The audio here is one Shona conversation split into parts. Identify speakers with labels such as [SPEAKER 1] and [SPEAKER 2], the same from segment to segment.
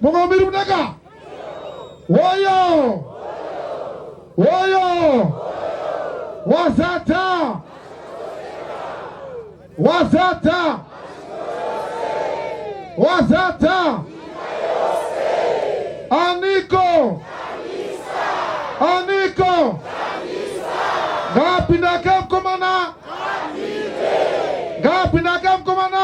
[SPEAKER 1] mungomiri kunaka woyo woyo wazadza wazadza wazadza aniko aniko ngapindake mkomana ngapinde akamukomana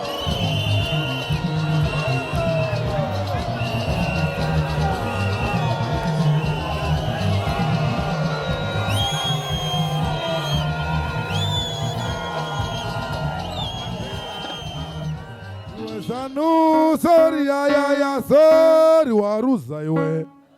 [SPEAKER 1] Sanu, sorry, ya, ya, ya, sorry, waruza iwe.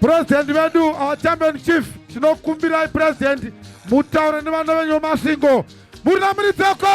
[SPEAKER 1] President vedu our champion chief tinokumbirai president mutaure nevana venyu vemasingo muri namuridzoko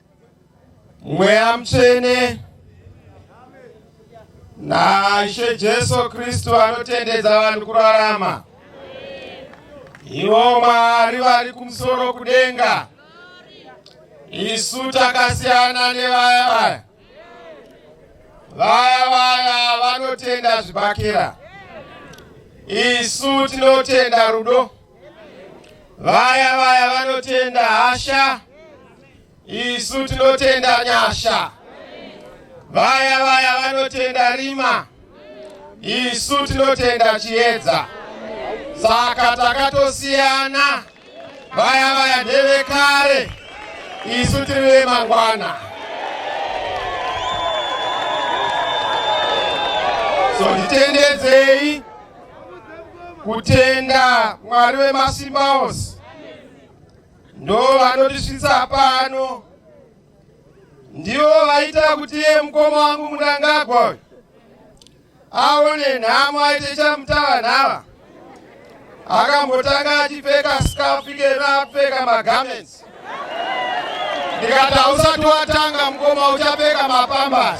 [SPEAKER 1] Mweya Mutsvene naIshe Jesu Kristu anotendedza vanhu kurarama. Ivo Mwari vari kumusoro kudenga, isu takasiyana nevaya vaya. Vaya vaya vanotenda zvibhakera, isu tinotenda rudo. Vaya vaya vanotenda hasha Isu tinotenda nyasha. Vaya vaya vanotenda rima. Isu tinotenda chiedza. Saka takatosiyana. Vaya vaya ndevekare. Isu tiri vemangwana. So nditendedzei kutenda Mwari wemasimba ose ndo vanotisvitsa pano ndivo vaita kuti iye mukoma wangu mundangagwa uyu aone nhamo aite chamutava nhava akambotanga achipfeka skafu ikena apfeka magarments ndikati hausati watanga mukoma uchapfeka mapambas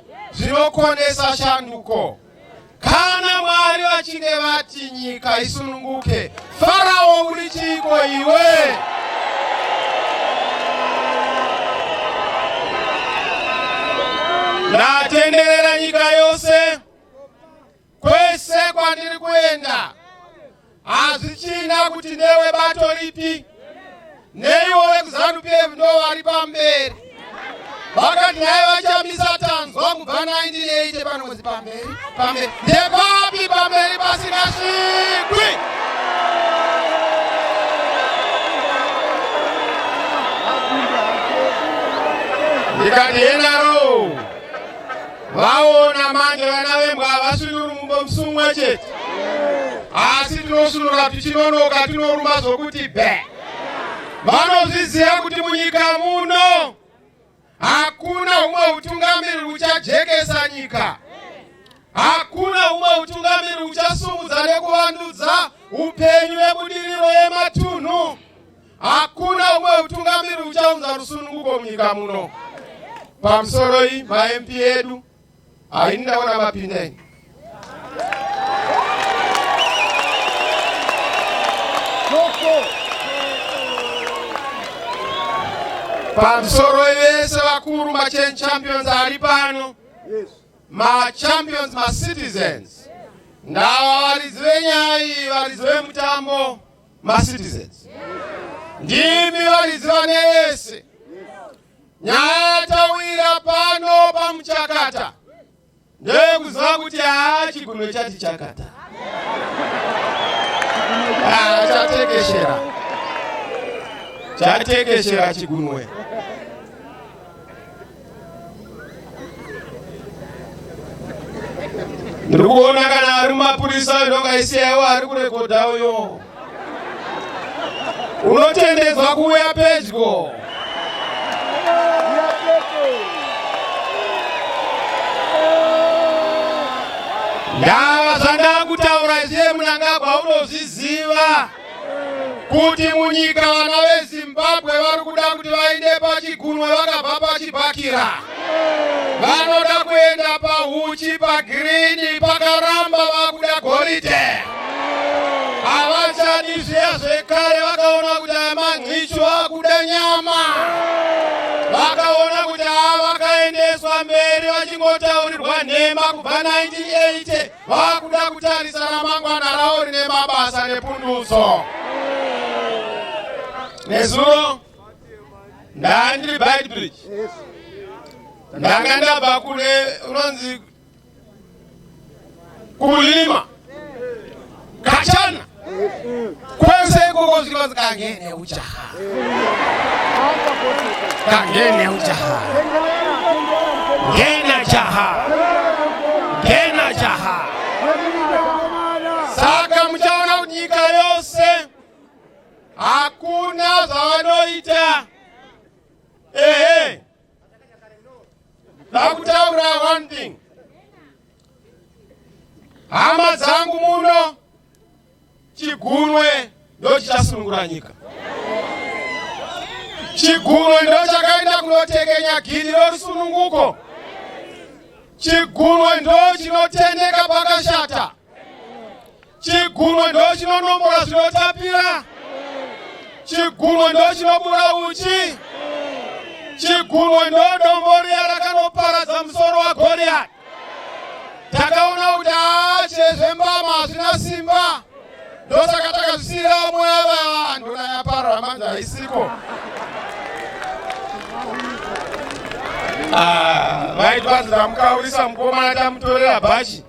[SPEAKER 1] zvinokonesa shanduko. Kana Mwari vachinge vati nyika isununguke, Farao uri chiiko iwe? Ndatenderera nyika yose Kwese kwandiri kuenda hazvichina kuti newe bato ripi neiwo vekuzanu pf ndo vari pamberi vakati naye vachamisa tanzwa kubva 1980 panozi pamberi pamberi ndepapi pamberi pasina svikwi ndikati yenaro vaona manje vana vembwa havasunuri mumbo musumwa chete asi tinosunura tichinonoka tinoruma zvokuti be vanozviziva kuti munyika muno hakuna humwe utungamiri huchajekesa nyika hakuna humwe utungamiri huchasumudza nekuvandudza upenyu vebudiriro yematunhu Hakuna umwe utungamiri uchaunza rusununguko munyika muno. Pamusoro iyi maMP edu haini ndaona mapinda ini. Pamusoro vese vakuru machan champions ari pano machampions macitizens ndava varidzi venyaya iyi varidzi vemutambo macitizens ndimi varidzi vane yese nyaya yatawira pano pamuchakata ndeyekuziva kuti haa chigume chati chakata haa chatekeshera chatekeshera chigunwe ndiri kuona kana ari mumapurisa uyo ndongaisiyaiwo ari kurekodha uyo unotendedzwa kuuya pedyo ndava zvandakutaura zviye munangagwa unozviziva kuti munyika vana vezimbabwe vari kuda kuti vaende pachigunwe vakabva pachibhakira vanoda kuenda pahuchi pagirini pakaramba vakuda goridhe havachadi zviya zvekare vakaona kuti aya manhicho akuda nyama vakaona kuti ava vakaendeswa mberi vachingotaurirwa nhema kubva 1980 vakuda kutarisa ramangwana ravo rine mabasa nepundutso nezuro ndanga ndiri bidbridge ndanga ndabva kune unonzi kulima kachana Kwese ikoko zvikanzi kangene ujaha. Kangene ujaha. Ngena jaha. Ngena jaha. Saka muchaona kuti nyika yose hakuna zvavanoita. Ehe. Ndakutaura one thing. Hama dzangu muno chigunwe ndochichasunungura nyika. Chigunwe ndochakaenda kunotekenya gidi rorusununguko. Chigunwe ndochinotendeka pakashata. chigumo ndochinonombora zvinotapira chigumo ndochinobuda uchi chigumo ndodomboriya rakanoparadza musoro wagoriyati takaona kuti haa chezvembama hazvina simba ndosaka takazvisiyira vamwe ava vanhu nayaparora manzi haisiko ah, vaiti vanzi ndamukaurisa mukomana tamutorera bhachi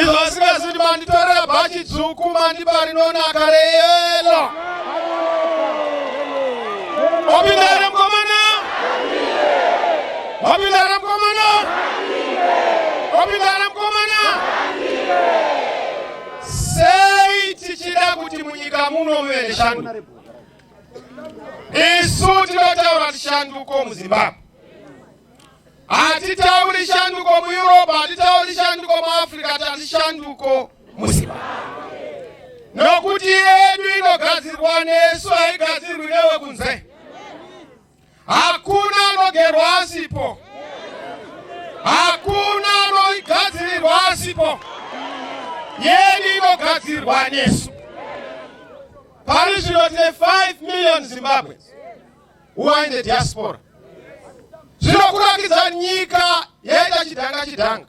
[SPEAKER 1] izvo asingazi kuti manditorera bhachi dzvuku mandipa rinonaka reyelo wapinda here mukomana wapinda here mukomana wapinda here mukomana sei tichida kuti munyika muno muve neshanduko isu tinotaura kuti shanduko muzimbabwe Hatitauri shanduko muEurope, hatitauri shanduko muAfrica, tati shanduko muZimbabwe. Nokuti yedu inogadzirwa nesu, haigadzirwi newe kunze. Hakuna anogerwa asipo, hakuna anoigadzirirwa asipo. Yedu inogadzirwa nesu. Pari zvino tine 5 million Zimbabweans. who are in the diaspora zvinokurakidza nyika yaita chidhanga chidhanga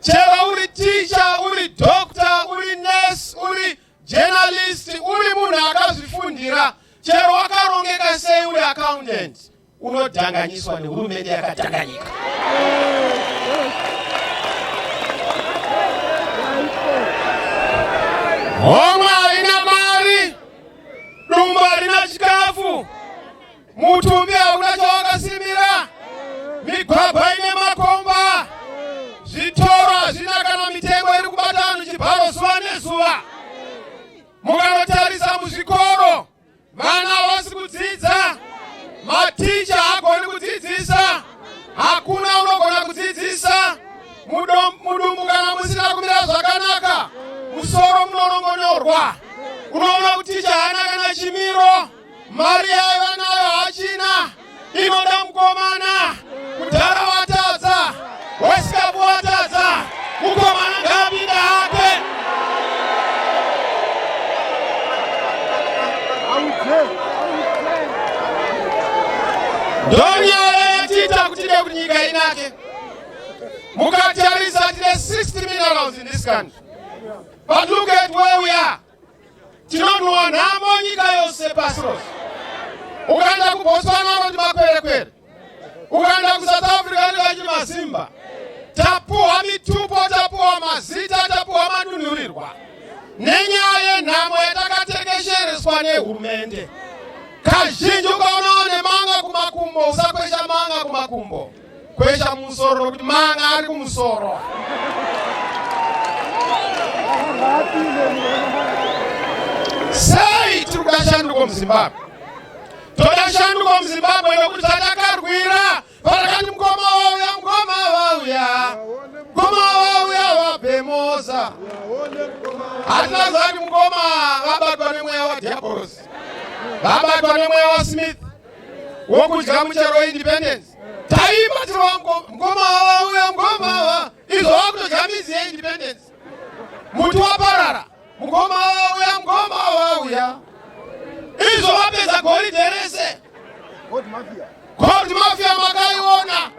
[SPEAKER 1] chero uri ticha uri dokta uri nurse uri journalist uri munhu akazvifundira chero wakarongeka sei uri accountant unodhanganyiswa nehurumende yakadhanganyika homwe Dumbu harina chikafu, mutumbi hauna chawakasimira, migwagwa ine makomba, zvitoro hazvina kana mitengo iri kubata vanhu chibharo zuva nezuva. Mukanotarisa muzvikoro, vana havasi kudzidza, maticha haagoni kudzidzisa. hakuna unogona kudzidzisa mudumbu kana musina kumira zvakanaka musoro munorongonyorwa unoona kuti ticha haana kana chimiro mari yaiva nayo hachina inoda mukomana kudhara watadza wesikapu watadza Mukomana ngapinde hake. Ndonyaya yatiita kuti ide kuti nyika inake. Mukatarisa tine 60 minerals in this country. But look at where we are. Tinonhuwa nhamo nyika yose pasi rose. Ukaenda kuBotswana unoti makwerekwere. ukaenda kusouth africa vanenge vachiti masimba tapuhwa mitupo tapuhwa mazita tapuhwa madunhurirwa nenyaya yenhamo yatakatekeshereswa nehurumende kazhinji ukaonawo nemanga kumakumbo usakwesha manga kumakumbo kwesha musoro nokuti manga ari kumusoro sei tiri kuda shanduko muzimbabwe toda shanduko muzimbabwe nokuti tatakarwira parakati mukoma wauya mukoma wauya mukoma wauya wabhemosa hatina zati mukoma vabatwa nemweya wadiabolos vabatwa nemweya wasmith wokudya muchero independence taimba tirova mukoma wauya mukoma wa izvo wakutodya mizi yeindependence muti waparara Mukoma wauya, mukoma wauya. Izvo vapedza goridhe rese. Gold mafia. Gold mafia makaiona.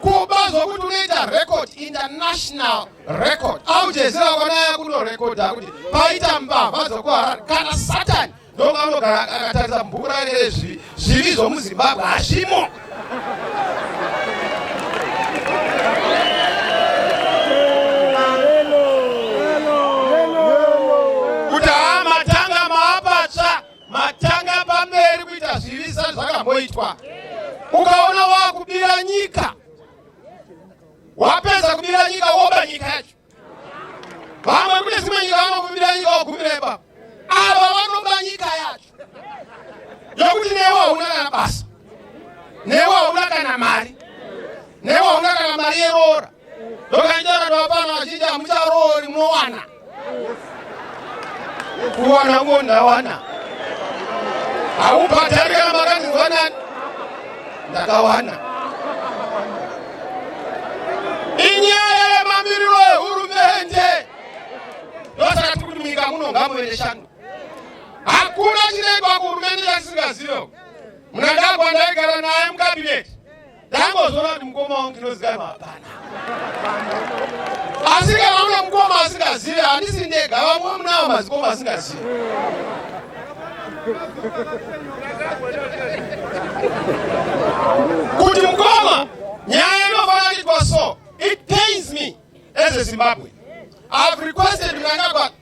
[SPEAKER 1] Kuba zvokuti unoita record international record. Au Jazeera kwanaya kuno record kuti paita mbavha dzokuharara kana Satan Donga anogara akatarisa bhuku rake rezvivi zvivi zvomuzimbabwe hazvimo kuti haa matanga maapatsva matanga pamberi kuita zvivi sa zvakamboitwa ukaona waakubira nyika wapedza kubira nyika woba nyika yacho vamwe kune dzimwe nyika vanokumbira nyika wagumirepa ava vanoba nyika yacho yokuti newe hauna kana basa newe hauna kana mari newe hauna kana mari yeroora ndokanjora ndovapana vazhinji hamucharoori mowana kuwana ngo ndawana haubhadhari kana makandinzwa nani ndakawana inyaya yemamiriro ehurumende ndosaka tiri kuti munyika muno ngamuve neshando hakuna chinoitwa kuhurumende chasisingazive mnangagwa ndaigara naye mukabineti Ndambozoona kuti mukoma wangu ndinozikanwa hapana. Asi kana une mukoma asingazive handisi ndega vamwe vamunawo mazikoma asingazive. Kuti mukoma nyaya inofana kuitwa so it pains me as a Zimbabwean. I have requested Mnangagwa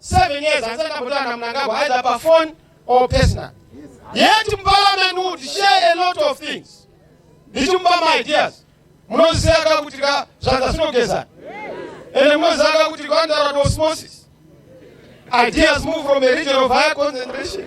[SPEAKER 1] 7 years hanzi ndakambotanga na Mnangagwa either pa phone or personal. Yet parliament would share a lot of things. Ndichimba my ideas. Munoziseka ka kuti ka zvanza sinogeza. Ende munozaka kuti kwandara to osmosis. Ideas move from a region of higher concentration.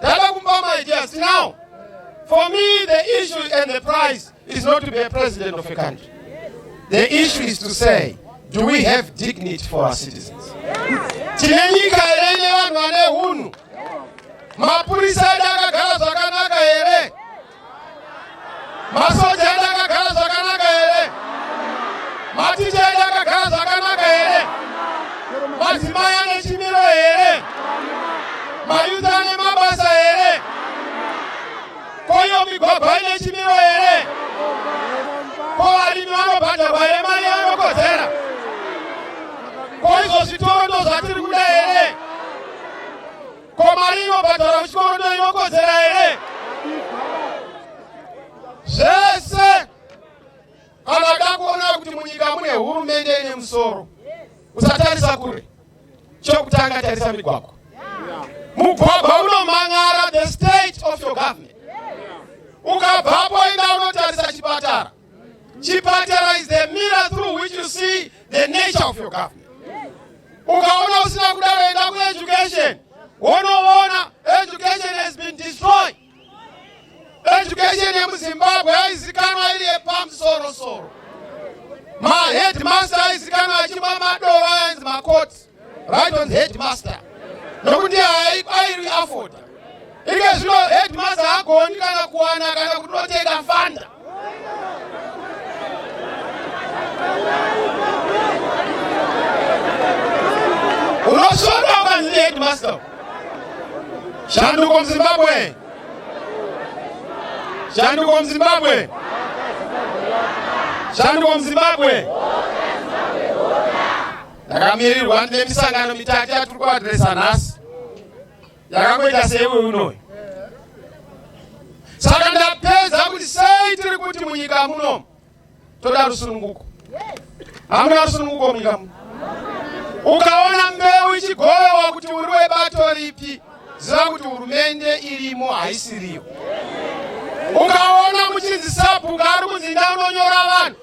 [SPEAKER 1] Dada kumba my dear, see now. For me, the issue and the prize is not to be a president of a country. The issue is to say, do we have dignity for our citizens? Tine nyika here ine vanhu vane hunhu? Mapurisa edu akagara zvakanaka here? Masoja edu akagara zvakanaka here? Maticha edu akagara zvakanaka here? Madzimai ane chimiro here? Mayuzi ane mabasa here? Koyo migwagwa ine chimiro here? Ko varimi vanobhadharwa here mari yavanokodzera? Ko izvo zvitoro ndozvatiri kuda here? Ko mari inobhadhara muchikorodo inokodzera here? Zvese kana dakuona kuti munyika mune hurumende ine musoro, usatarisa kure. Chokutanga tarisa migwagwa. Mugwagwa unomhan'ara the state of your government. Ukabvapo enda unotarisa chipatara. Chipatara is the mirror through which you see the nature of your government. Ukaona usina kudaro enda ku education. Wonoona education has been destroyed. Education yemuZimbabwe yaizikanwa iri yepamusoro soro. Maheadmaster aizikanwa achimwa madova anzi makoti. right on the headmaster nokuti haairi afoda ike zvino headmaster agoni kana kuwana kana kuti unotenga fanda unosvota ukanzi headmaster shanduko muzimbabwe shanduko muzimbabwe shanduko muzimbabwe ndakamirirwa ndine misangano mitatu yatiri kuadresa nhasi yakangoita seiwe unoyo saka ndapedza kuti sei tiri kuti munyika muno toda rusununguko hamuna rusununguko munyika muno ukaona mbeu ichigovewa kuti uri webato ripi ziva kuti hurumende irimo haisiriyo ukaona muchinzi sabhuku ari kunzi ndaunonyora vanhu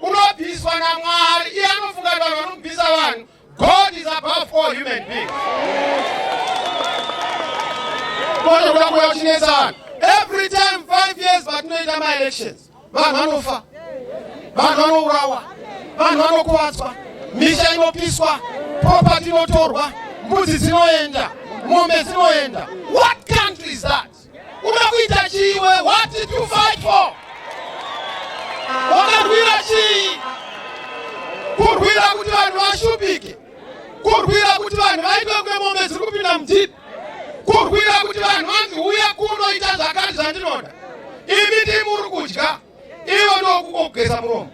[SPEAKER 1] unobviswa namwari iye anofunga kuti vanhu vanobvisa vanhu god is above all human being konokuda kuya kuchinetsa vanhu every time five years vatinoita maelections vanhu vanofa vanhu vanourawa vanhu vanokuvadzwa misha inopiswa property inotorwa mbudzi dzinoenda mombe dzinoenda what country is that Uda kuita chii iwe? What did you fight for? Wakarwira chii? Kurwira kuti vanhu vashupike, kurwira kuti vanhu vaitwe kunge mombe dziri kupinda mujipi, kurwira kuti vanhu vanzi uya kunoita zvakati zvandinoda. Imi ndimi muri kudya. ivo ndokukogeza muromo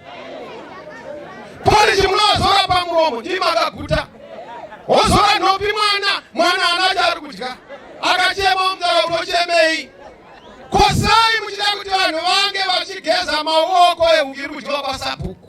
[SPEAKER 1] polishi munozora pamuromo ndii makaguta wozora nhopi mwana mwana ana chaari kudya akachema omzara unochemei kosai muchida kuti vanhu vange vachigeza maoko iri kudyiwa pasabhuku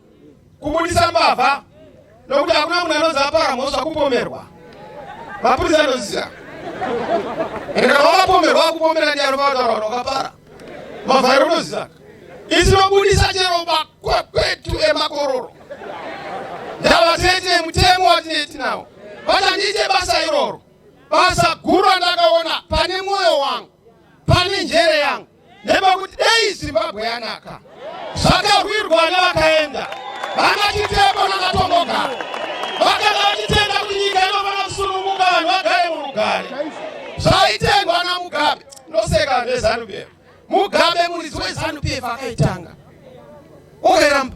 [SPEAKER 1] kubudisa mbavha nokuti hakuna munhu anonzi apara mhosva kupomerwa mapurisa anoziva ende kana wakapomerwa akupomera ndiani pavataura kuti wakapara mbavha iri unoziva isinobudisa chero makwekwetu emakororo ndavatete mutemo watineti nawo vachandiite basa iroro basa guru randakaona pane mwoyo wangu pane njere yangu nepakuti dei zimbabwe yanaka zvakarwirwa vana vakaenda vana chiteko nanatongoga vakanga vachitenda kuti nyika inofana kusununguka vanhu vagare murugare zvaitengwa namugabe ndoseka nezanupf mugabe muridzi wezanupf akaitanga oheramba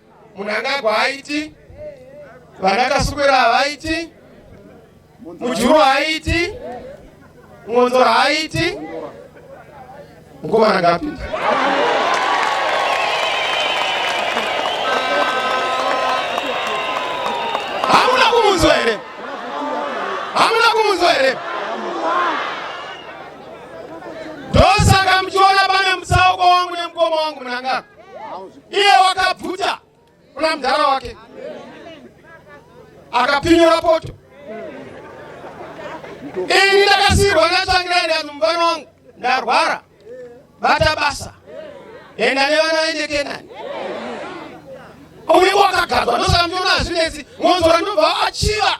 [SPEAKER 1] Munangagwa haiti, vana Kasukwera havaiti, Mujuru haiti, Mwonzora haiti, mukomana ngapinda. Hamuna kumunzwa here? Hamuna kumunzwa here? Ndosaka muchiona pane mutsauko wangu nemukoma wangu munangagwa. iye wakabvuta kuna mudhara wake akapinyura poto ini ndakasirwa ndatsvangira ndati mufana wangu ndarwara bata basa enda nevana vaende kenani uye wakagadzwa ndosakamjona hazvinetsi ngonzora ndobva achiva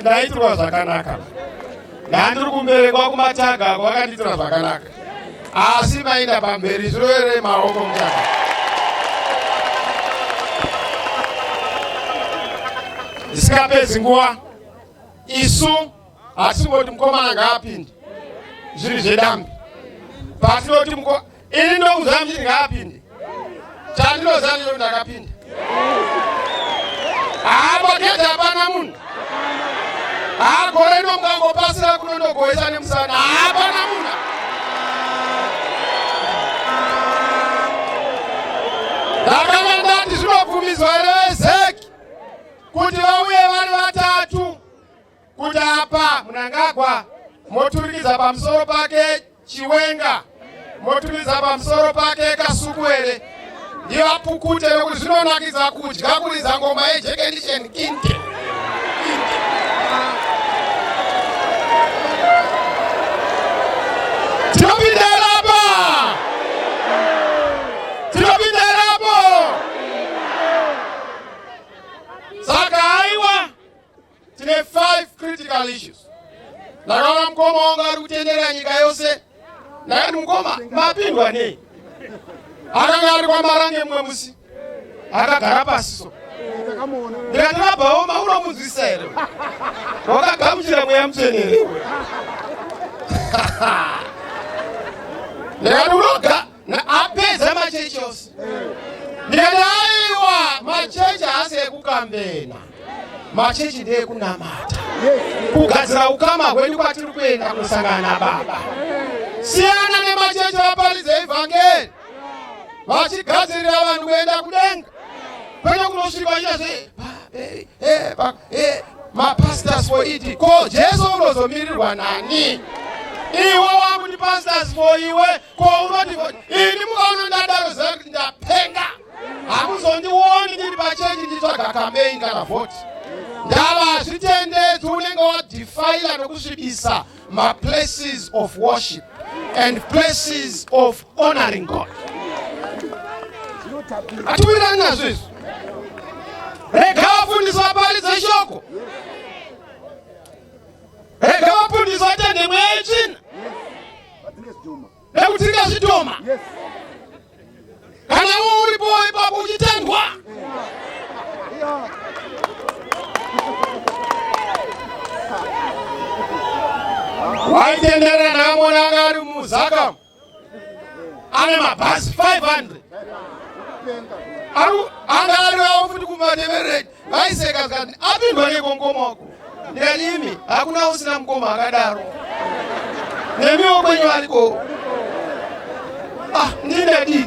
[SPEAKER 1] ndaitirwa zvakanaka ndandiri kumberekwa kumataga ako vakandiitira zvakanaka asi maenda pamberi zvirovere maoko mutaka zvisikapedzi nguva isu hatisingoti mukomana ngaapinde zviri zvedambi patinoti Ini ndokuziva mchiti ngaapinde. Chandinoziva ndicho ndakapinda. Hapa kete hapana munhu. Haa gore ino mukangopasira kuno ndogoesa nemusana. Hapana munhu. Ndakanga ndati zvinobvumidzwa here vezeki kuti vauye vari vatatu. kuti apa munangagwa moturikidza pamusoro pake chiwenga moturikidza pamusoro pake kasukuwere ndiyo apukute nokuti zvinonakidza kudya kuridza ngoma yejekendisheni kinte tinopinderapa tinopinderapa saka aiwa tine 5 critical issues ndakaona mukoma wangu ari kutenderera nyika yose ndakati mukoma mapindwa nei akanga ari kwamarange mumwe musi akagara pasi so ndikati rabhaoma unomunzwisa here wakagamuchira mweya mutsvene here ndikati unoga apedza machechi ose ndikati aiwa machechi haasi ekukambena machechi ndeekunamata kugadzira ukama hwedu kwatiri kuenda kusangana nababa siyana nemachechi vaparidza evhangeri vachigadzirira vanhu kuenda kudenga kwete kunosvika vachitazve eh, eh, eh, mapastors for it ko jesu unozomirirwa nani iwe wakuti pastors for iwe Ko unoti ini mukaona ndadaro ziva kuti ndapenga. Hamuzondioni ndiri pachechi nditsvaga campaign kana vote. Ndava hazvitendedzi unenge wadefiler nokusvibisa maplaces of worship and places of honoring God. Hatiwirirani nazvo izvi. Rega vafundisi vaparidze shoko. Rega vafundisi vatende mweya yetsvina. nekudzinga zvidhoma kana wo uripo ipapo uchitendwa waitendera namona anga ari muzakamu ane mabhasi 500 anga ariawo futi kumateveredi Vaiseka zikati apindwa neko mkoma wako ndikati imi hakuna usina mkoma akadaro nemiwo kwenyu ariko ah, ndinedi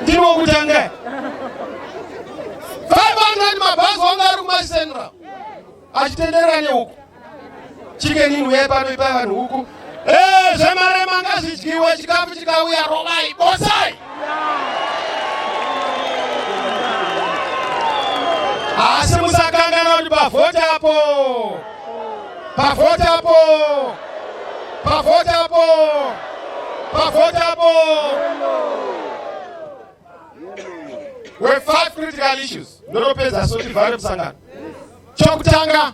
[SPEAKER 1] ndiri wokutanga 500 mabhazi wanga ari kumacentral achitenderera neuku chicken in uye pano ipai vanhu huku eh, zvemarema ngazvidyiwe chikafu chikauya rovai bosai asi musakangana kuti pavhoti apo pavhoti apo pavhoti apo pavhoti apo we five critical issues ndotopedza sotivhare musangano chokutanga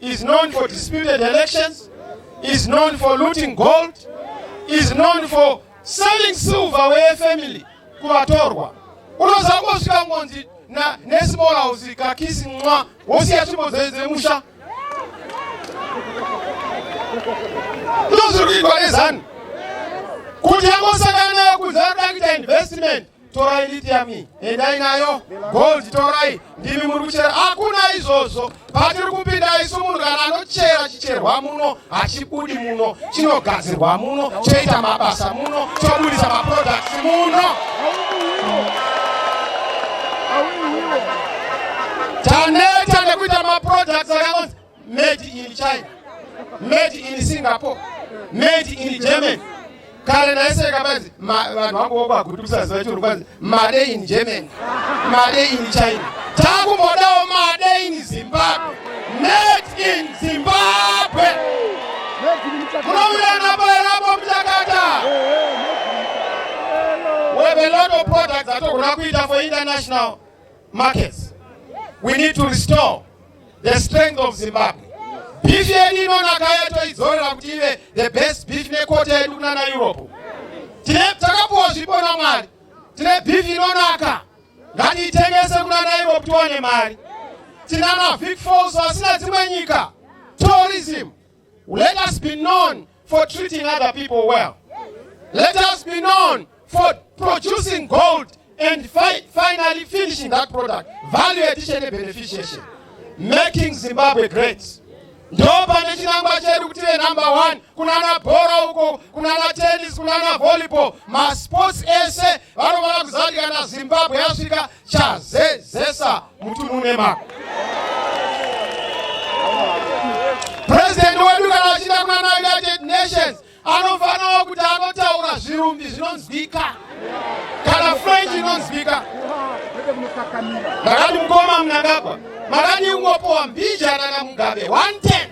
[SPEAKER 1] is known for disputed elections, is known for looting gold, is known for selling silver where family kuvatorwa unozangosvika ngonzi nesmall house kakisi mwa wosiya tsvimbo dzemusha ndozviri kuitwa nezanu kuti yangosangana nayo kunzi ari kuita investment torai lithium endai nayo gold torai ndimi muri kuchera hakuna izvozvo patiri kupinda isu munhu kana anochera chicherwa muno hachibudi muno chinogadzirwa muno choita mabasa muno chobudisa maproducts muno taneta nekuita maproducts akaonzi made in china made in singapore made in germany kare ndaiseka manzi vanhu vangu vokwagutisa ziva churu kwanzi made in germany made in china takumbodawo made in zimbabwe made in zimbabwe munovirana paerapo muchakata wevelot of products atogona kuita for international markets. We need to restore the strength of Zimbabwe. Beef yedu inonaka yatoidzorera kuti ive the best beef nekota yedu kuna na Europe. Tine takapuwa zvipo na Mwari. Tine beef inonaka. Ngatiitengese kuna na Europe tiwane mari. Tina na Vic Falls asina dzimwe nyika. Tourism. Let us be known for treating other people well. Let us be known for producing gold and fi finally finishing that product. Value addition and beneficiation. Making Zimbabwe great. Ndo pane chinangwa chedu kuti venumber one kunana bhora uko kunana tennis kunana volleyball masports ese vanofanira kuziva kuti kana zimbabwe yasvika chazezesa mutununema purezidenti wedu kana achiita kunana united nations anofanirawo kuti anotaura zvirumbi zvinonzwika kana french inonzwika ndakati mukoma munangagwa makati ingopowa mbijana namugabe 110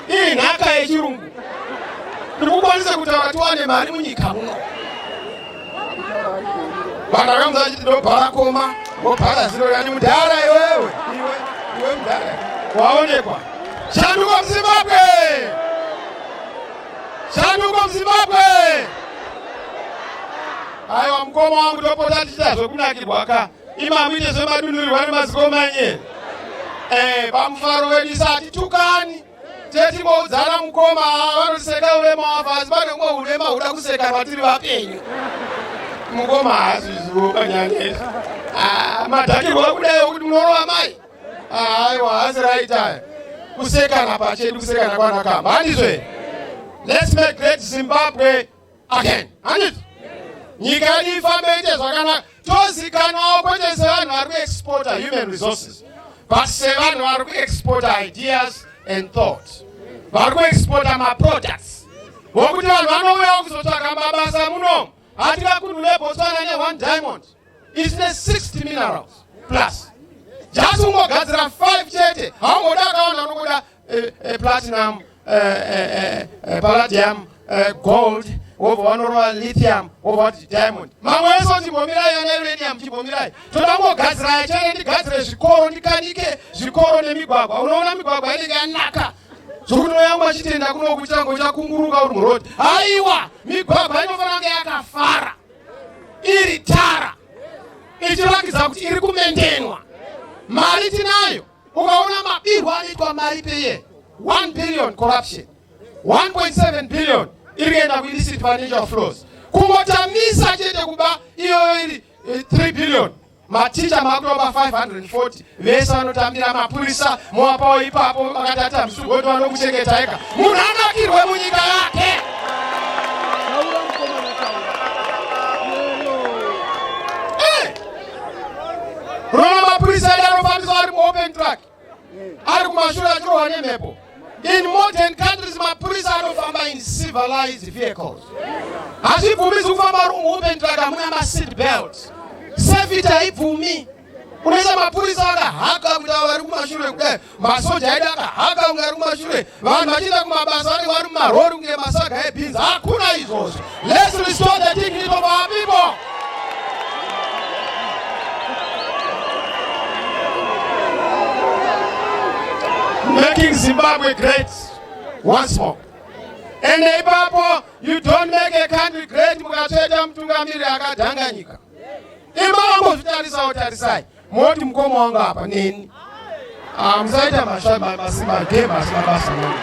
[SPEAKER 1] iri nhaka yechirungu tiri kukwanisa kutaura tiwane mari munyika muno vanhu vakamudza vachiti ndobhara koma wobhara ziro yani mudhara iwewe iwe iwe mudhara waonekwa shanduko muzimbabwe shanduko muzimbabwe aiwa mukoma wangu topota tichita zvekunakirwa ka imakuite zvemadunurirwa nemazikomanye eh, pamufaro wedu isa hatitukani tetimoudzana mukoma vanoseka urema wafa asi pane umwe urema huda kuseka vatiri vapenyu mukoma haazvizivo panyanya ah, madhakirwa kudai okuti munorova mai ah, aiwa haasi right aya kusekana pachedu kusekana kwanakamba handizve let's make great zimbabwe again handiti nyika yedu ifambe ite zvakanaka tozikanwawo kwete sevanhu vari kuexporta human resources but sevanhu vari kuexporta ideas and thought vari kuexporta maproducts vokuti vanhu vanouyawo kuzotsvaga mabasa muno hatikakunhule botswana neone diamond isine 60 minerals plus just ungogadzira 5 chete haungoda akawanda unokuda eh, eh, platinum eh, eh, eh, eh, palladium eh, gold wobva wanorova lithium wobva wati diamond mamwe ese kuti mbomirai ana uranium chimbomirai toda kungogadziraya chete ndigadzire zvikoro ndikanike zvikoro nemigwagwa unoona migwagwa inenge yanaka zvokuti noyangu achitenda kuno kuitira ngo chakunguruka uri muroad haiwa migwagwa inofanira kunge yakafara iri tara ichirakidza kuti iri kumendenwa mari tinayo ukaona mabirwo anoitwa mari peye 1 billion corruption 1.7 billion iri kuenda kuillicit financial flows kungotamisa chete kuba iyoyo iri 3 eh, billion maticha makutoba 540 vese vanotambira mapurisa moapawo ipapo makati atambisa ugoti vanokuchengetaika munhu anakirwe munyika yake Rona mapurisa edu anofambiswa ari muopen track, ari kumashure achirohwa nemhepo. In modern countries mapurisa anofamba in civilized vehicles. Hazvibvumisi kufamba ari muopen track hamuna maseat belts. Safety haibvumi. Unoisa mapurisa akahaka kuti ava vari kumashure kudai masoja edu akahaka kunge ari kumashure vanhu vachienda kumabasa vanenge vari mumarori kunge masaga ebhinzi hakuna izvozvo lets restore the dignity of our people making zimbabwe great once more ende ipapo you don't make a country great mukatsveta mutungamiri akadhanga nyika imambo zvitarisa otarisai moti mukoma wangu apa neni ah, musaita masimagema asi mabasa nani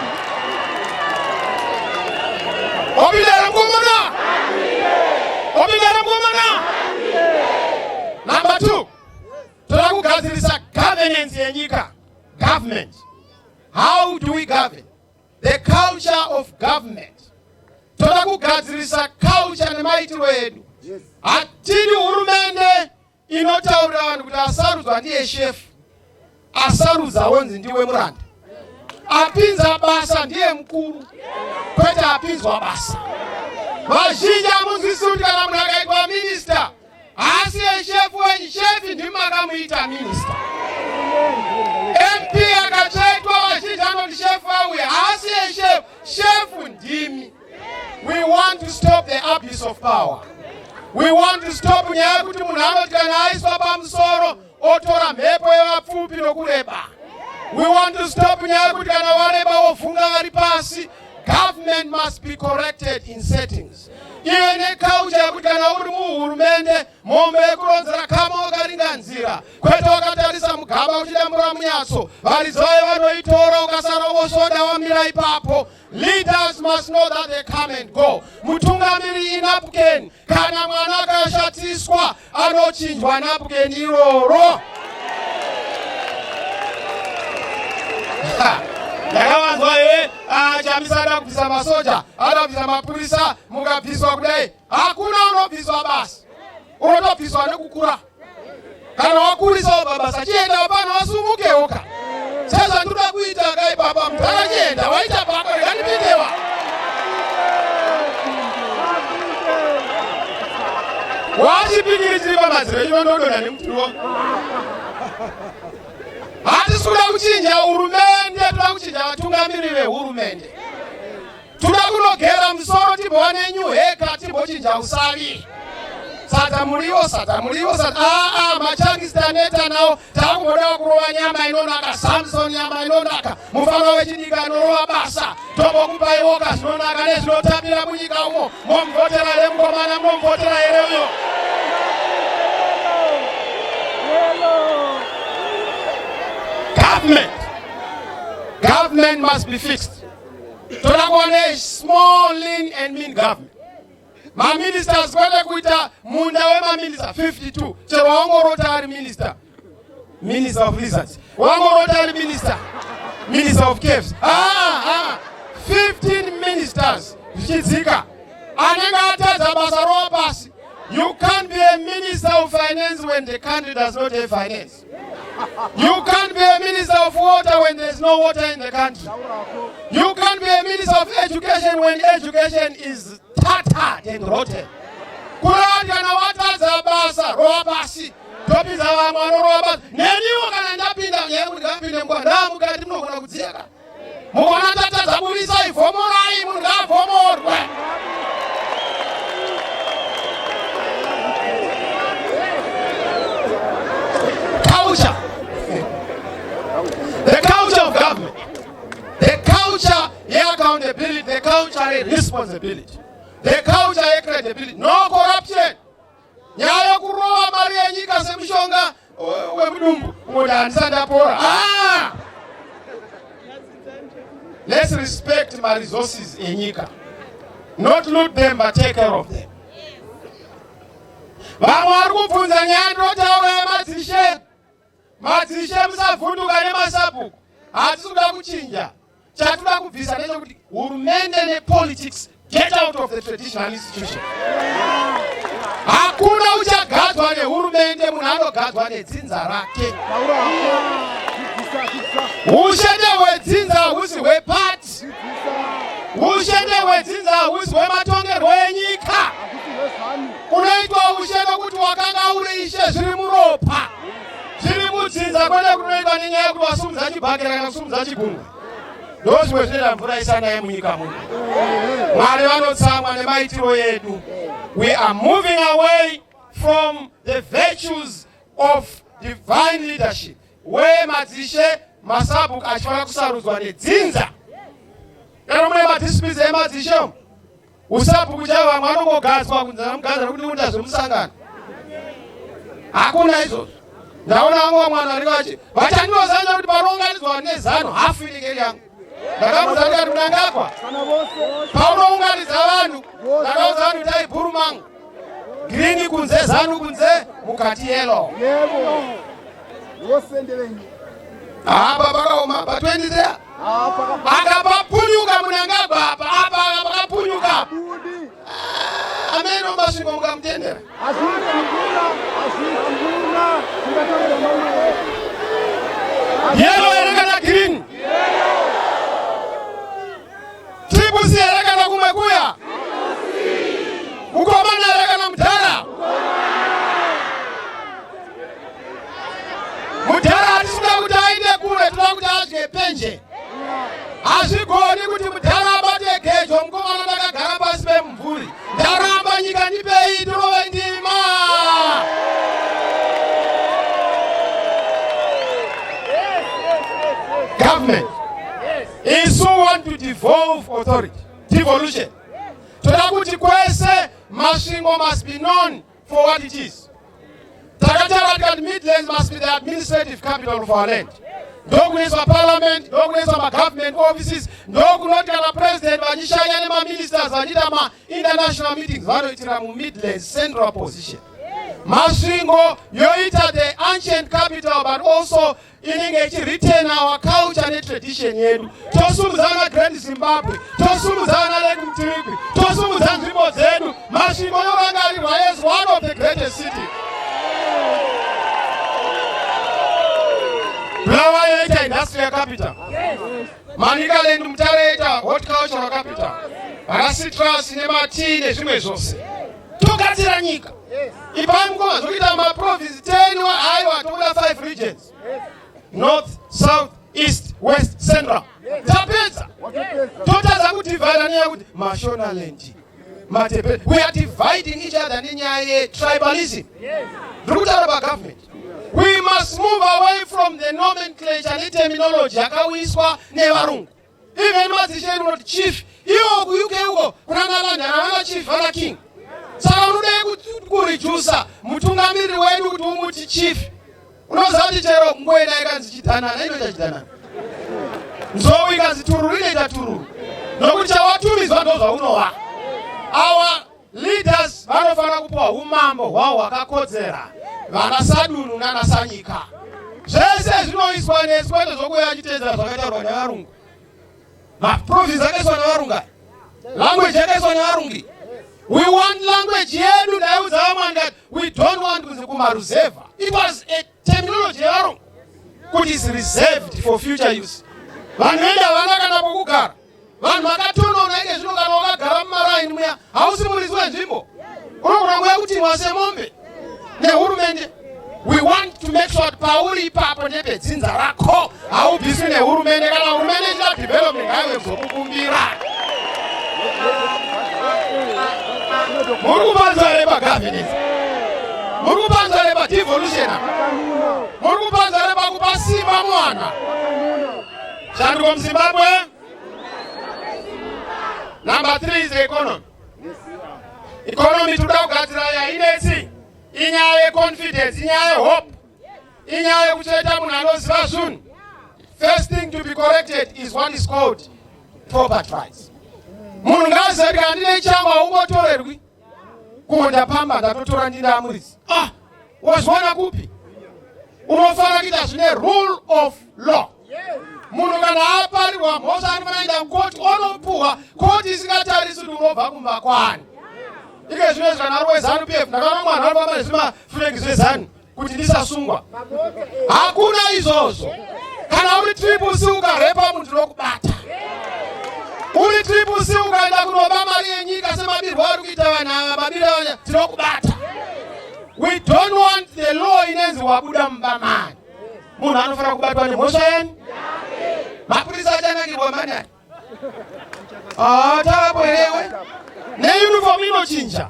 [SPEAKER 1] opindara mukomana opindara mukomana number two toda kugadzirisa governance yenyika government how do we govern the culture of government toda kugadzirisa culture nemaitirwo edu hatidi hurumende inotaurira vanhu kuti asarudzwa ndiye shefu asarudza wonzi ndiwe muranda apinza basa ndiye mukuru kwete apinzwa basa vazhinji amunzwisi kuti kana munhu akaitwa minista haasi yeshefu wenyu shefi ndimi makamuita minista mp akatsvaitwa vazhinji anoti shefu auye haasi yeshefu shefu ndimi We want to stop the abuse of power. We want to stop nyaya yekuti munhu anoti kana aiswa pamusoro otora mhepo yevapfupi nokureba. We want to stop nyaya yekuti kana wareba wovhunga vari pasi. Government must be corrected in settings. Iwe nekaucha yekuti kana uri muhurumende mombe yekuronzera kama wakaringa nzira kwete wakatarisa mugaba uchidambura munyatso varidzi vaye vanoitora ukasara wosvoda wamira ipapo Leaders must know that they come and go. Mutungamiri inapken kana mwana akashatiswa anochinjwa napken iroro. ndakavanzwa here ah, chamisa ada kubvisa masoja ada kubvisa mapurisa mukabviswa kudai hakuna unobviswa basi unotobviswa nekukura kana wakurisawo baba sachienda hapana wasumukewo ka sezvandinoda kuita kai baba mudhara chienda waita bako rega ndipindewa wachipikiri chiri pamadziro ino ndodona nemuturo hatisi kuda kuchinja hurumende toda kuchinja vatungamiri vehurumende Toda kunogera musoro timbova nenyu heka timbochinja usavi. Sadza muriwo, sadza muriwo, sadza. Ah, ah, machangisi taneta nawo. Takungoda kurova nyama inonaka, Samson nyama inonaka. Mufana wechidika anorova basa. Tombokupaiwoka zvinonaka nezvinotapira munyika umo. Momvotera here mukomana, momvotera here uyo? Government. Government must be fixed. toda kuona small lean and mean government maministers kwete kuita munda wemaminista 52 chero wangorota ari minista minister of lizards wangorota ari minista minister of caves aa 15 ministers zvichidzika anenge atadza basa rowa pasi you can't be a minister of finance when the country does not have finance You can't be a minister of water when there's no water in the country. You can't be a minister of education when education is tattered and rotten. Kurati kana watadza basa rova pasi topinza vamwe vanorova basa neniwo kana ndapinda nyaya kuti ngapinde mukwa ndaa mukati munogona kudziyaka Muvana tatadza budisai vhomorai munhu ngaavhomorwe. Culture. The culture of government. The culture yeaccountability, the culture yeresponsibility. The culture yecredibility. No corruption. nyaya yekurova mari yenyika semushonga wemudumbu umoti handisati ndapora ah! let's respect maresources enyika not loot them but take care of them vamwe vari kubvunza nyaya ndinotaura yemadzishe Madzishe musavhunduka nemasabhuku, hatisi kuda kuchinja. Chatinoda kubvisa ndechekuti hurumende nepolitics get out of the traditional institution. Hakuna uchagadzwa nehurumende, munhu anogadzwa nedzinza rake. Ushende hwedzinza husi hwepati, ushende hwedzinza husi hwematongerwo enyika. Kunoitwa ushendo kuti wakanga uri ishe zviri muropa. tiri kudzinza kwete kunoitwa nenyaya yekuti wasumudza chibhakera kana kusumudza chigungwe ndozvimwe zvinoita mvura isanaye munyika muno mwari vanotsamwa nemaitiro edu we are moving away from the virtues of divine leadership where madzishe masabuk achifanira kusarudzwa nedzinza kana mune madisipisi emadzishe Usabhuku chavo vamwe vanongogadzwa kunzi anamugadzira kuti nekuita zvemusangano. Hakuna izvozvo. Ndaona vamwe vamwe vanhu vari vache vachandinozaira kuti panounganidzwa vanhu nezano hafu inenge iri yangu. Ndakamuudza kuti ati munangagwa paunounganidza vanhu ndakaudza vanhu itai bhuru mangu. Green kunze zanu kunze mukati yellow. Yebo. Wosende venyu. Apa pakaoma pa 20 there. Apa papunyuka munangagwa apa apa pakapunyuka. Ah, ameno masvingo mukamutendera. Azvinga mvura, azvinga mvura. Tingatorera mamwe. Yellow Triple C here kana kumwe kuya? Mukomana here kana mudhara? Mudhara hatisikuda kuti aite kure, tinoda kuti adye penje. Hazvigoni kuti mudhara abate gejo, mukomana ndakagara pasi pemumvuri. Ndaramba nyika ndipei, tirove ndima. Government. Isu want to devolve authority. Devolution. Toda kuti kwese Masvingo must be known for what it is. Takataura tikati Midlands must be the administrative capital of our land. Ndokunoiswa parliament, ndokunoiswa magovernment offices, ndokunoti kana president vachishanya nemaministers vachiita mainternational meetings vanoitira mumidlands central position. Masvingo yoita the ancient capital but also inenge ichiretain our culture netradition yedu tosumudza vana grand zimbabwe tosumudza vana lake mtirigwi tosumudza nzvimbo dzedu masvingo yovangarirwa as one of the greatest city bulawa yoita industrial capital manicaland mutare yoita horticultural capital vana citrus nematii nezvimwe zvose togadzira nyika ipai mukoma zvekuita maprovince 10 aiwa tokuda 5 regions north south east west central tapedza totadza kudivhaida nenyaya yekuti mashonaland matepe we are dividing each other nenyaya yetribalism ndiri kutaura pagovernment we must move away from the nomenclature neterminology yakauyiswa nevarungu even madzishe edu unoti chief iwo kuuk uko kuna nalandana vana chief vana king saka unodei kurijusa mutungamiriri wedu kuti umuti chief unoziva kuti chero ngoenda ikanzi chidanana inoita chidanana nzou ikanzi tururu inoita tururu nokuti chawatumidzwa ndozvaunowa awa Leaders vanofanira kupiwa umambo hwawo hwakakodzera, vana sadunhu nana sanyika. Zvese zvinoiswa nesu kwete zvokuya achiteedzera zvakataurwa nevarungu. Maprovince akaiswa nevarunga, language yakaiswa nevarungi. We want language yedu, ndaiudza vamwe ndikati we don't want kunzi kumaruzevha. It was a Terminology yevarungu kuti is reserved for future use. Vanhu vedu havana kana pokugara. Vanhu vakatonona ike zvino kana wakagara mumaraini muya hausi muridzi wenzvimbo. Unogona kuuya kutimwa semombe nehurumende. We want to make sure kuti pauri ipapo nepedzinza rako haubviswi nehurumende kana hurumende ichita development haiwe kuzokukumbira muri kupanzwa here pagovernance muri kupanzwa here padevolution muri kupanzwa here pakupa simba mwana shanduko muzimbabwe number three is economy economy tinoda kugadzira yainetsi inyaya yeconfidence inyaya yehope inyaya yekucheta munhu anoziva zvinhu first thing to be corrected is what is called property rights munhu ngaaziva kuti kana ndine changu haungotorerwi kumo ndapamba ndatotora ndine amuridzi ah wazviona kupi unofanira kuita zvine rule of law munhu kana aparirwa mhosva anofanira kuenda kukoti onopuhwa koti isingatarisi kuti unobva kumba kwani ike zvino izvi kana ari wezanu pf ndakaona mwana ari pamba nezvimafuregi zvezanu kuti ndisasungwa hakuna izvozvo kana uri triple c ukarepa munhu tinokubata uri triple c ukaenda kunoba mari yenyika semabirwo ari kuita vanhu ava mabiro aya tinokubata we don't want the law inenzi wabuda mumba mani munhu anofanira kubatwa nemhosva yani mapurisa achanangirwa manani Ah, tavapo herewe neuniform inochinja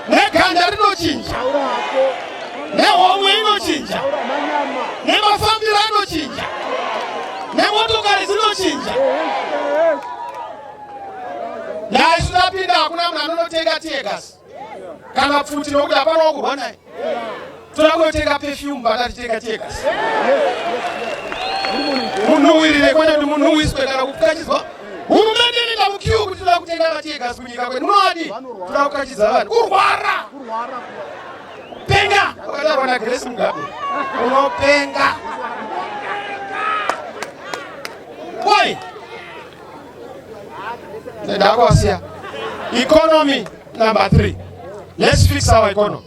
[SPEAKER 1] neganda rinochinja nehomwe inochinja nemafambiro anochinja nemotokari dzinochinja naisu tapinda hakuna munhu anonotenga tiegas kana pfuti nokuti hapana wakurwa naye toda kunotenga pefyumu bakatitenga tega munhuwirire kwete kuti munhuwiswe kana kupfukachizwa hurumende inoenda mukiu kuti toda kutenga mategas kunyika kwedu munoadi toda kukachidza vanhu kurwara penga wakataurwa nagresi mugabe unopenga ndakuwasiya economy number three let's fix our economy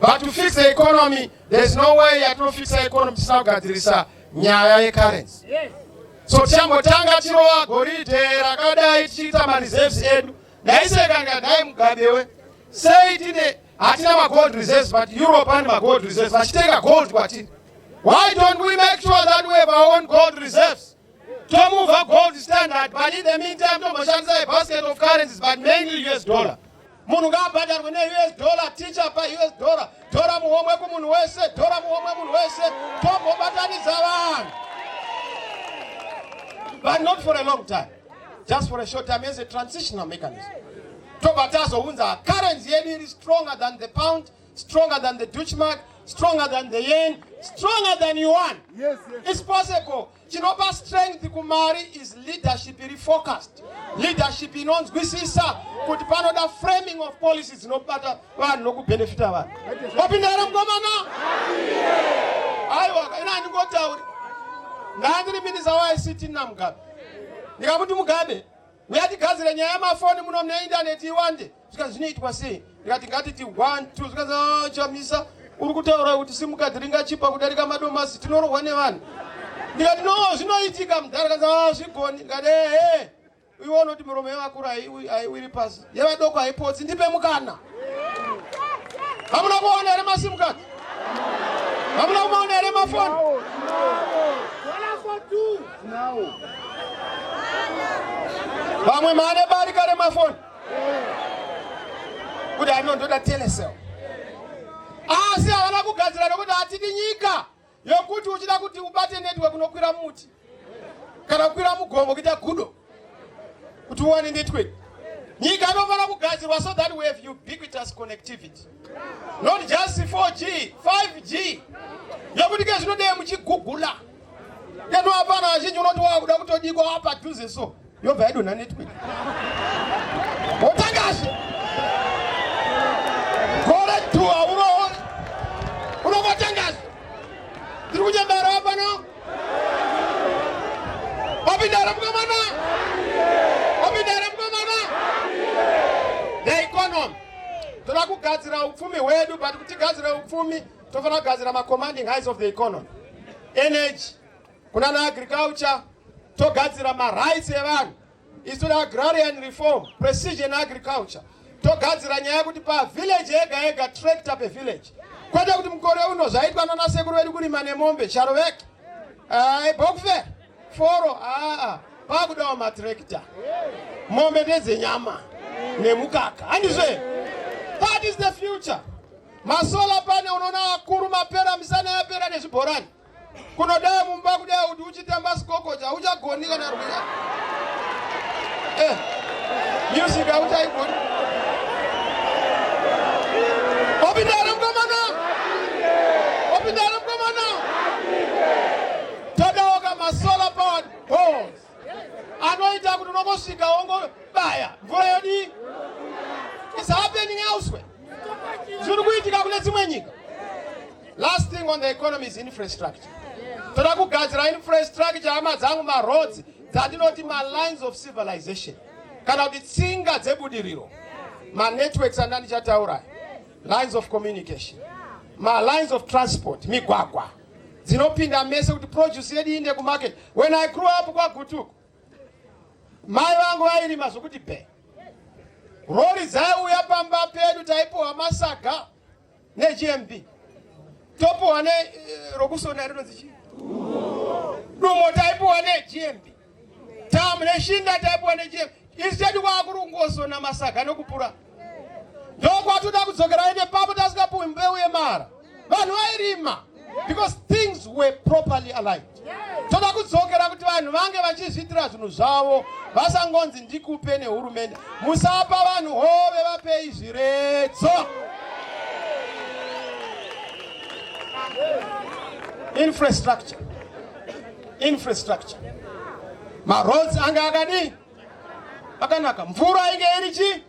[SPEAKER 1] but to fix the economy there's no way yatinofixa economy tisina kugadzirisa nyaya yecurrency so tichambotanga tirowa goridhe rakadai tichiita mareserves edu ndaiseka ndikadai mugabewe sei tine hatina magold reserves but europe ane magold reserves vachitenga gold kwatini why don't we make sure that we have our own gold reserves tomova gold standard but in the meantime tomboshandisa a basket of currencies but mainly us dollar munhu ngaabhadharwe neus dollar ticha paus dollar tora muhomwe kumunhu wese tora muhomwe munhu wese tombobatanidza vanhu but not for a long time just for a short time as a transitional mechanism tobva tazounza currency yedu iri stronger than the pound stronger than the dutchmark stronger than the yen stronger than yuan yes, yes. is possible chinopa strength kumari is leadership iri focused leadership inonzwisisa kuti panoda framing of policy dzinobata vanhu nokubenefita vanhu wapinda here mukomana aiwa ina handingotauri ndandiri minisa waict namugabe ndikakuti mugabe uyatigadzire nyaya yemafoni muno mune indaneti iwande zvikanzi zvinoitwa sei ndikati ngatiti one two zvikanzi ah, chamisa uri kutaura kuti simukadhi ringachipa kudarika madomasi tinorohwa nevanhu ndikati no zvinoitika mudhara kanzi ah, zvigoni ndikati ehe iwe unoti miromo yevakuru haiwiri pasi yevadoko haipotsi ndipe mukana hamuna kuona here masimukadhi hamuna kumaona here mafoni vamwe mane barika remafoni kuti ano ndoda telecel asi havana kugadzira nokuti hatidi nyika yokuti uchida kuti ubate network unokwira muti kana kukwira mugomo kuita gudo kuti uwane network nyika inofanira kugadzirwa so that we have ubiquitous connectivity not just 4g 5g yokuti ke zvinodei muchigugula keno hapana vazhinji unoti wakuda kutodikwa wapadhuze so yobva yadonha network wotangazve gore two hauroori unovatangazve tiri kunyambara wapano wapindara mukomana wapindara mukomana the economy toda kugadzira upfumi hwedu but kuti gadzira upfumi tofanira kugadzira macommanding highs of the economy energy kuna na agriculture togadzira marights evanhu isu agrarian reform precision agriculture togadzira nyaya yekuti pavillage yega yega tractor pevillage kwete kuti mukore uno zvaitwa nana sekuru vedu kurima nemombe charoveki bokfe foro aa pakudawo matrakta mombe ndedzenyama nemukaka handizve that is the future masola pane unoona akuru mapera misana yapera nezvibhorani kunodaa mumba kudai kuti uchitamba sikokoja hauchagoni kana rwiya eh, music hauchaigoni opindana mukomana opindana mukomana todaoka masolar powered balls anoita kuti unongosvika wongobaya mvura yodii is happening elsewhere zviri kuitika kune dzimwe nyika last thing on the economy is infrastructure toda kugadzira infrastructure hama dzangu maroads dzatinoti malines of civilization kana kuti tsinga dzebudiriro manetworks andandichataura lines of communication malines of transport migwagwa dzinopinda mese kuti produce yedu iinde kumarket when i grew up kwagutuku mai vangu vairima zvokuti be rori dzaiuya pamba pedu taipiwa masaga negmb topiwa ne eh, rokusona rinonzi chii dumo taipiwa negmb tamu neshinga taipiwa nechiyema instead kwakuri kungozona masaga nokupura ndokwatoda kudzokera aende papo tasingapuwi mbeu yemara vanhu vairima because things were properly aligned toda kudzokera kuti vanhu vange vachizviitira zvinhu zvavo vasangonzi ndikupe nehurumende musapa vanhu hove vapei zviredzo infrastructure infrastructure maroads ange akadii akanaka mvura inge iri chii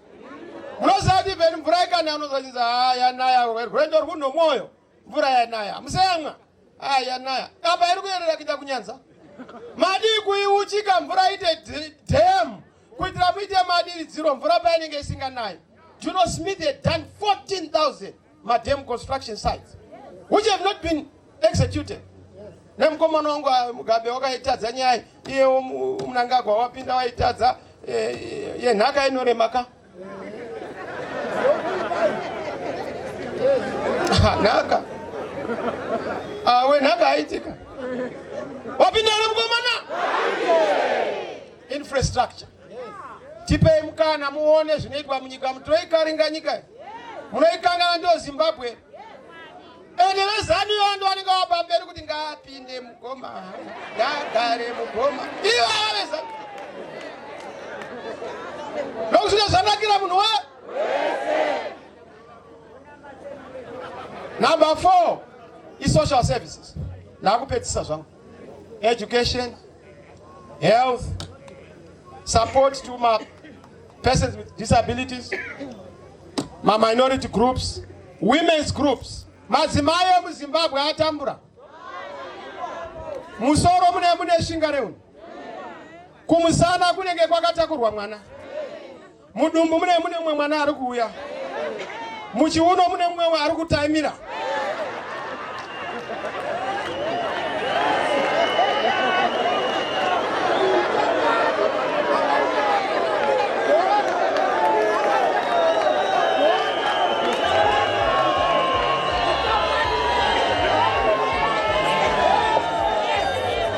[SPEAKER 1] munoziva kuti veni mvura ikana anozvachinzi ha yanaya rwendo rwu nomwoyo mvura yanaya museyamwa ha yanaya apa iri kuyerera kuita kunyanza madii kuiuchika mvura ite dam kuitira muite madiridziro mvura painenge isinganayi juno smith had done 14000 madam construction sites which have not been executed nemukomana wangu ah, mugabe wakaitadza nyaya iyewo munangagwa wapinda waitadza eh, eh, yenhaka inoremaka nhaka ah, wenhaka aitika wapinda nemukomana infrastructure tipei mukana muone zvinoitwa munyika mutoikaringa nyika munoikangana ndo zimbabwe ende vezanu iyo ndo vanenge vapa mberi kuti ngaapinde mugoma ngagare mugoma iyo avareza nokusvika zvanakira munhu we number four isocial services nakupedzisa zvangu education, health, support to my persons with disabilities, my minority groups, women's groups. Madzimai emuZimbabwe atambura musoro mune mune shinga reuni kumusana kunenge kwakatakurwa mwana Mudumbu mune mune mumwe mwana ari kuuya. Muchiuno mune mumwe ari kutaimira.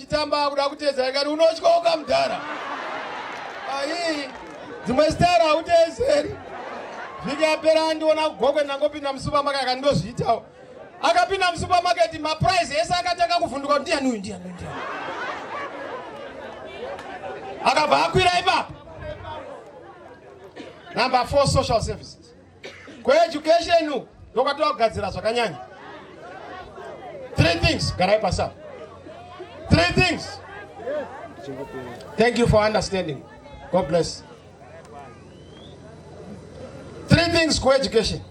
[SPEAKER 1] chitamba akuda kuteza ikati unotyoka mudhara aii dzimwe zitara hautezeri vhiki yapera andiona kugokwe ndangopinda musupermarket akati ndozviitawo akapinda musupermarket maprice ese akatanga kuvhunduka kuti ndiyani uyu ndiyani uyu ndiyani akabva akwira ipapo number four social services kueducation uku ndokwatova kugadzira zvakanyanya three things garai pasa three things thank you for understanding god bless three things kueducation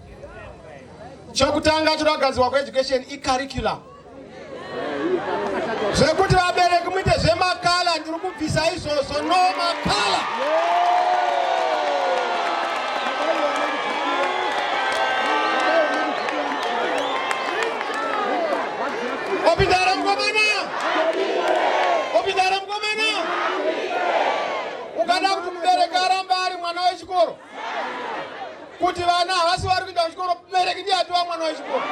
[SPEAKER 1] chokutanga choda kugadzirwa kueducation icurriculum zvekuti vabereki muite zvemakala ndiri kubvisa izvozvo no makala opindara mukomana opindara mukomana ukada kuti mubereki aramba ari mwana wechikoro kuti vana havasi vari kuenda kuchikoro mubereki ndiye atova mwana wechikoro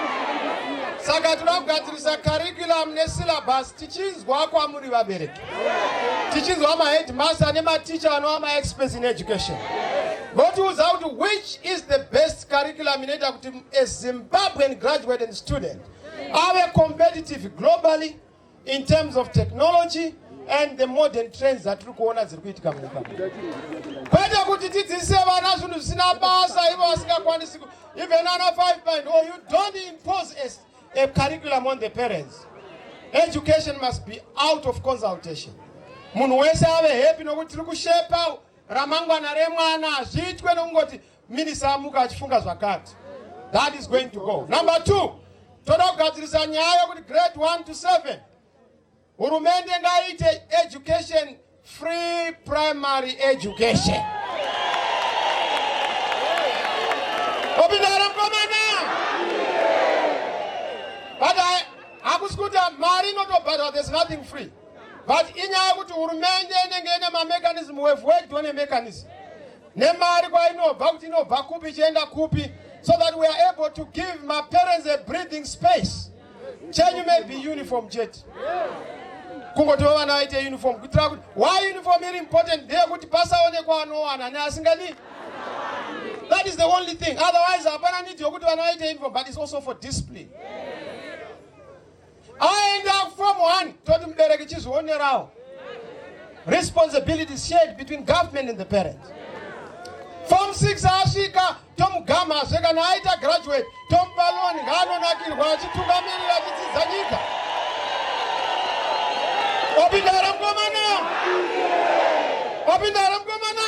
[SPEAKER 1] saka tinoda kugadzirisa curriculum nesyllabus tichinzwa kwamuri vabereki tichinzwa maheadmaster nematicha anova maexperts in education votiudza kuti which is the best curriculum inoita kuti a zimbabwean graduate and student ave competitive globally in terms of technology and the modern trends dzatiri kuona dziri kuitika munyika kwete kuti tidzidzise vana zvinhu zvisina basa ivo vasingakwanisi even ana five point or you don't impose a, a curriculum on the parents education must be out of consultation munhu wese ave happy nokuti tiri kushepa ramangwana remwana hazviitwe nokungoti Minisa amuka achifunga zvakati. That is going to go. Number two, toda kugadzirisa nyaya yokuti grade 1 to 7 hurumende ngaiite education free primary education. Opindara mkomana. But I hakusi kuti mari inotobhadhwa there's nothing free. But inyaya yokuti hurumende inenge ine mamechanism, we've worked on a mechanism. nemari kwainobva kuti inobva kupi ichienda kupi so that we are able to give my parents a breathing space chenyu may be uniform chete kungotiwo vana vaite uniform kuitira kuti why uniform iri important ndeyekuti pasaonekwa anowana neasingadi that is the only thing otherwise hapana need yokuti vana vaite uniform but it's also for discipline aenda from one toti mubereki chizvionerawo responsibility shared between government and the parents form 6 asvika tomugamhazve kana aita graduate tomupa loni ngaanonakirwa achitungamirira achidzidza nyika opinda here mukomana opinda here mukomana